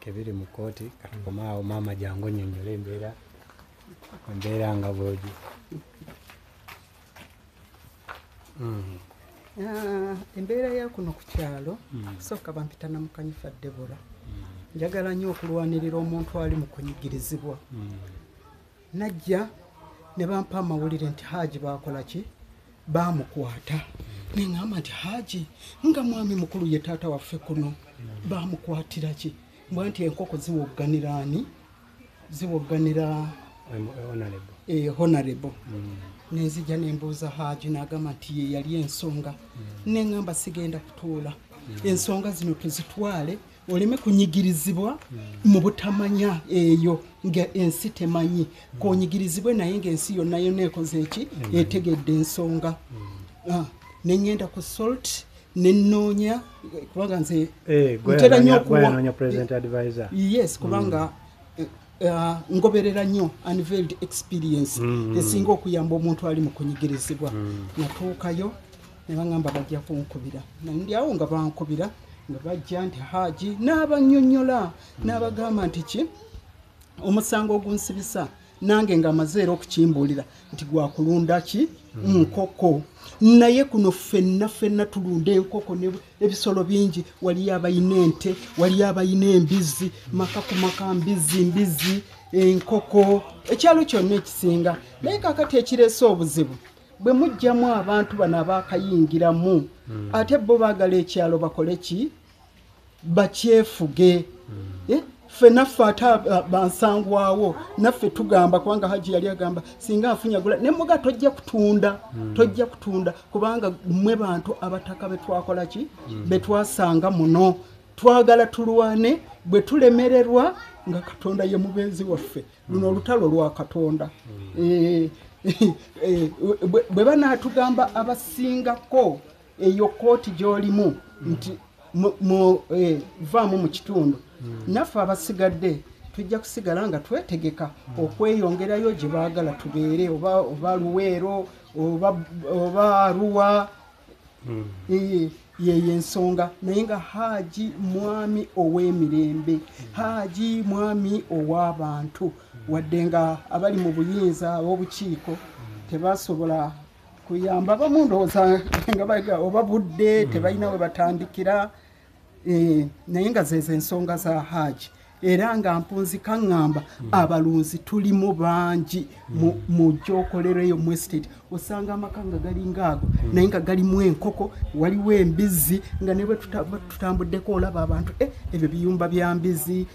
kebiri mu kkooti katukomaawo maama jangu onyonyola embeera embeera nga bwogi hmm. ah, embeera yakuno ku kyalo hmm. sooka bampita namukanyufa debora hmm. njagala nnyo okulwanirira omuntu ali mu kunyigirizibwa najja ne bampa amawulire nti haaji baakola ki baamukwata ne ŋŋamba nti haaji nga mwami mukulu ye taata waffe kuno baamukwatira ki mbwa nti enkoko ziwogganira ani ziwogganira eh, honarebo eh, mm. nenzija nembuuza haaji n'agamba nti ye yali ensonga mm. ne ŋŋamba sigenda kutuula mm. ensonga zino tuzitwale oleme kunyigirizibwa mu butamanya eyo nga ensi temanyi konyigirizibwe naye ngaensi yonna yonna ekoze eki etegedde ensonga mm. ah, nengenda ku salt nenoonya kubanga nze eh, ntera nyo yes kubanga mm. Uh, ngoberera nnyo unveiled experience mm. esinga okuyamba omuntu ali mu kunyigirizibwa mm. natuukayo ne baŋŋamba bajja kunkubira ndi awo nga bankubira nga bajja nti haaji n'abanyonyola n'abagamba nti ki omusango ogunsibisa nange nga amaze era okukimbuulira nti gwakulunda ki hmm. nkoko naye kuno ffenna ffenna tulunda enkoko ebisolo bingi waliyo abalina ente waliyo abalina embizzi maka ku maka mbizzi mbizzi enkoko ekyalo kyonna ekisinga naye kakati ekireese obuzibu bwe mujjamu abantu bano abaakayingiramu hmm. ate bo baagala ekyalo bakole ki bakyefuge hmm. eh, ffe naffe ate bansangwawo naffe tugamba kubanga hajji yali agamba singa afunyagula ne muga tojja kutunda hmm. tojja kutunda kubanga mwe bantu abataka betwakola ki betwasanga muno twagala tulwane bwe tulemererwa nga katonda ye mubeezi waffe luno olutalo lwa katonda eh, eh, eh, bwe banaatugamba abasingako eyo kooti gy'olimu nti vaamu mu kitundu naffe abasigadde tujja kusigala nga twetegeka okweyongerayo gye baagala tubeere oba luweero oba ruwa mm. eh, yeyo ensonga naye nga haaji mwami ow'emirembe mm. haaji mwami ow'abantu mm. wadde nga abali mu buyinza obukiiko tebasobola kuyamba bamu ndowooza nga oba budde tebalina we batandikira Eh, naye nga zezo ensonga za haaji era nga mpunzi kaŋŋamba hmm. abalunzi tulimu bangi mu hmm. gyokolera eyo mu estate osanga amaka nga galinga ago hmm. naye nga galimu enkoko waliwo embizzi nga ne bwe tutambuddeko olaba abantu eh, ebyo biyumba bya mbizi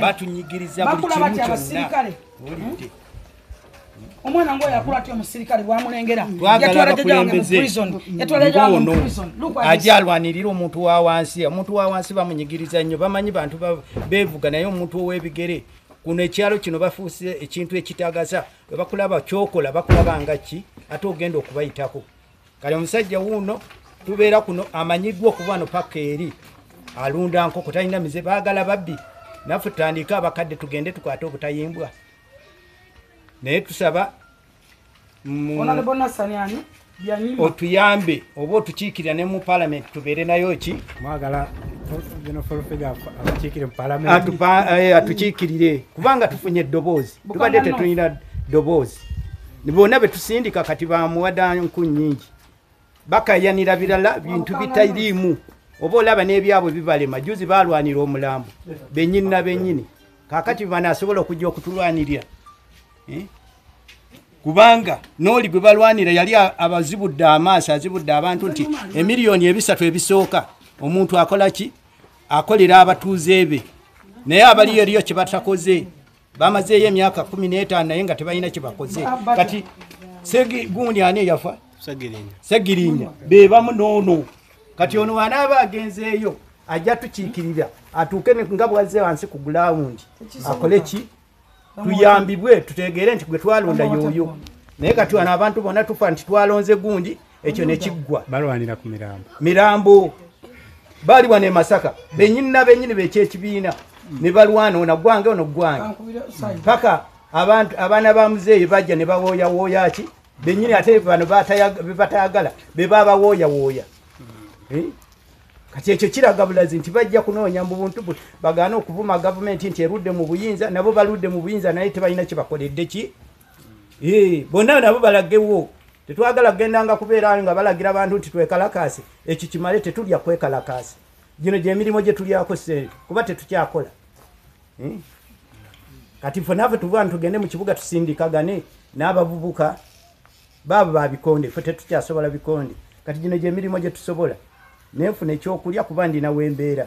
batunyigiriza buli kimu kyonna owulidde omwana nga oyo akula atya omusirikale bwamulengera aja alwanirira omuntu wa wansi omuntu wa wansi bamunyigiriza nnyo bamanyi bantu bevuga naye omuntu ow'ebigere kuno ekyalo kino bafuuse ekintu ekitagaza webakulaba kyokola bakulaba nga ki ate ogenda okubayitako kale omusajja wuuno tubeera kuno amanyiddwa okuba ano paka eri alunda nkoko talina mize baagala babbi naffe tutandiike abakadde tugende tukwate obutayimbwa naye tusaba otuyambe oba otukiikirira ne mu palamenti tubeere nayo ki atukiikirire eh, kubanga tufunye eddoboozi tubadde tetulina ddoboozi bonna betusindika kati bamuwada nku nyingi bakayanira birala bintu bitaliimu oba olaba n'ebyabwe bibalema juzi balwanira omulambo benyini na benyini kakati banasobola okujja okutulwanirira eh? kubanga nooli gwe balwanira yali abazibudde amaaso azibudde abantu nti emiliyoni ebisatu ebisooka omuntu akola ki akolera abatuuze be naye abaliyo eriyo kyebatakoze bamazeeyo emyaka kumi n'etaano naye nga tebalina kyebakoze kati segigundi ani eyafa segirinya bebamu noono kati ono anaaba agenzeeyo ajja tukiikirira atuuke nga bwazze wansi ku gulawundi akole ki tuyambibwe tutegeere nti gwe twalonda yooyo naye kati wano abantu bona tufa nti twalonze gundi ekyo nekiggwa balwanira ku mirambo mirambo baali wane masaka benyinina benyini bekyekibiina ne balwana ona gwange ono gwange paka abantu abaana ba muzeeyi bajja ne bawooyawooya ki benyini ate bano bebatayagala bebabawooyawooya eh? kati ekyo kiraga bulazi nti bajja kunoonya mu buntu bwe bagaana okuvuma gavumenti nti erudde mu buyinza nabo baludde mu buyinza naye tebalina kyebakoledde ki bonna nabo balagewo tetwagala kugendanga kubeerayo nga balagira abantu nti twekalakaase ekyo kimale tetulya kwekalakaasa gino gyemirimu gye tulyako sente kuba tetukyakola hmm? kati fe naafe tuvuga nitugende mu kibuga tusindikagane n'abavubuka baabo ba bikonde fe tetukyasobola bikonde kati gino gyemirimu gye tusobola nenfuna ekyokulya kuba ndina wembeera